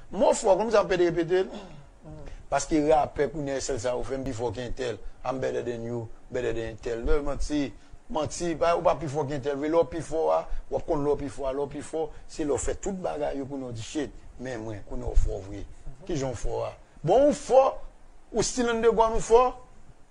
Mo fò konn sa pede repetel paske rapè kounya esèl sa yo fè m pi fò ke entèl I'm better than you, better than entèl no manti manti ou pa pi fò ke entèl vre lè w pi fò a wap konn lè w pi fò a lè w pi fò se lè w fè tout bagay yo kounya w di shit men mwen kounya w fò vre kijan w fò a bon ou fò ou still underground ou fò.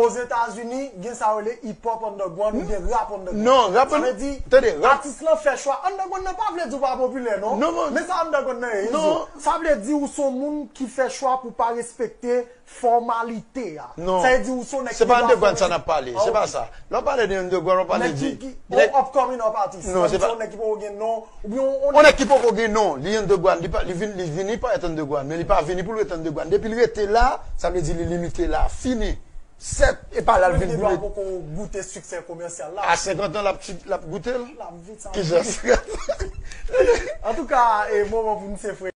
Ozetazini, gen sa yo rele hip-hop underground ou gen rap underground. Sa vle di, atis lan fè chwa. Underground nan pa vle di ou pa popilè non. Men sa underground nan ye, Izo. Sa vle di ou son moun ki fè chwa pou pa respekte fòmalite a. Sa vle di ou son nèg ki pa fòmalize. Non, se pa underground sa n ap pale. Se pa sa. Lè w pale de underground, w ap pale de. Nèg ki upcoming up atis. Non, se pa. Ou son nèg ki poko gen non, On nèg ki poko gen non, li an degwa, li vini parèt an degwa, men li pa vini pou l rete an degwa. Depi l rete la, sa vle di li limite la. Fini. Sèt, e pa la l vin pou l rete. Mwen gen dwa poko goute siksè komèsyal la. A senkant an l ap goute l? Ki jan senkant an? Antouka, e moman pou n se frekans.